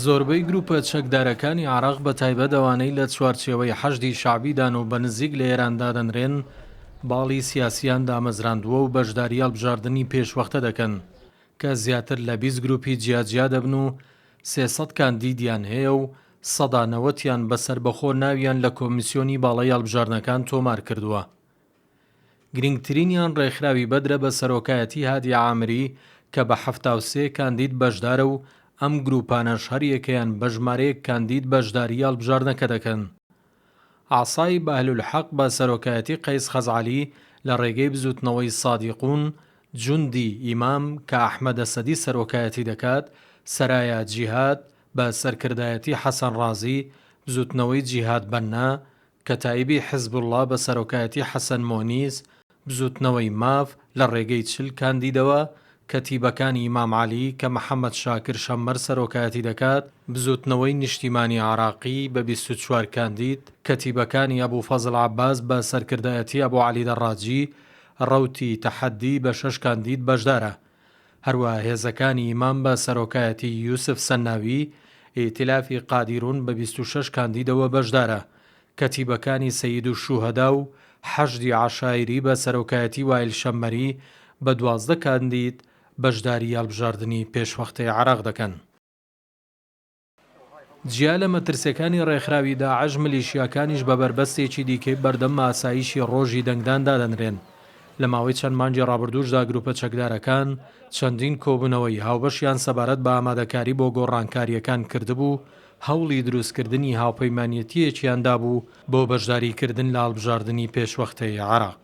زۆربەی گروپە چەکدارەکانی عێراق بە تایبەت ئەوانەی لە چوارچێوەی حەشدی شەعبیدان و بە نزیک لە ئێران دادەنرێن، باڵی سیاسییان دامەزراندووە و بەشداری هەڵبژاردنی پێشوەختە دەکەن، کە زیاتر لە بیست گروپی جیاجیا دەبن و سێ سەد کاندیدیان هەیە و سەدا نەوەتیان بە سەربەخۆ ناویان لە کۆمیسیۆنی باڵای هەڵبژاردنەکان تۆمار کردووە. گرنگترینیان ڕێکخراوی بەدرە بە سەرۆکایەتی هادی عامری کە بە حەفتا و سێ کاندید بەشدارە و ئەم گرووپانەش هەریەکەیان بە ژمارەیەک کاندید بەشداری هەڵبژاردنەکە دەکەن. عەسای بەهلولحەق بە سەرۆکایەتی قەیس خەزعەلی لە ڕێگەی بزووتنەوەی سادیقون جوندی ئیمام کە ئەحمەد ئەسەدی سەرۆکایەتی دەکات، سەرایا جیهاد بە سەرکردایەتی حەسەن ڕازی، بزووتنەوەی جیهاد بەننا کەتائیبی حزبوڵڵا بە سەرۆکایەتی حەسەن مۆنیس، بزووتنەوەی ماف، لە ڕێگەی چل کاندیدەوە، کەتیبەکانی ئیمام عەلی کە محەمەد شاکر شەممەر سەرۆکایەتی دەکات، بزووتنەوەی نیشتیمانی عێراقی بە بیست و چوار کاندید، کەتیبەکانی ئەبو فەزڵ عەباس بە سەرکردایەتی ئەبو عەلی دەڕاجی، ڕەوتی تەحەددی بە شەش کاندید بەشدارە. هەروا هێزەکانی ئیمام بە سەرۆکایەتی یوسف سەنناوی، ئیتیلافی قادیرون بە بیست و شەش کاندیدەوە بەشدارە، کەتیبەکانی سەییدوشوهەدا و حەشدی عەشایری بە سەرۆکایەتی وائیل شەممەری بە دوازدە کاندید بەشداری هەڵبژاردنی پێشوەختەی عێراق دەکەن. جیا لە مەترسیەکانی ڕێکخراوی داعش ملیشیاکانیش بە بەربەستێکی دیکەی بەردەم ئاسایشی ڕۆژی دەنگدان دادەنرێن، لە ماوەی چەند مانگی ڕابردووشدا گروپە چەکدارەکان چەندین کۆبوونەوەی هاوبەشیان سەبارەت بە ئامادەکاری بۆ گۆڕانکاریەکان کردبوو، هەوڵی دروستکردنی هاوپەیمانێتیەکیان دابوو بۆ بەشداریکردن لە هەڵبژاردنی پێشوەختەی عێراق.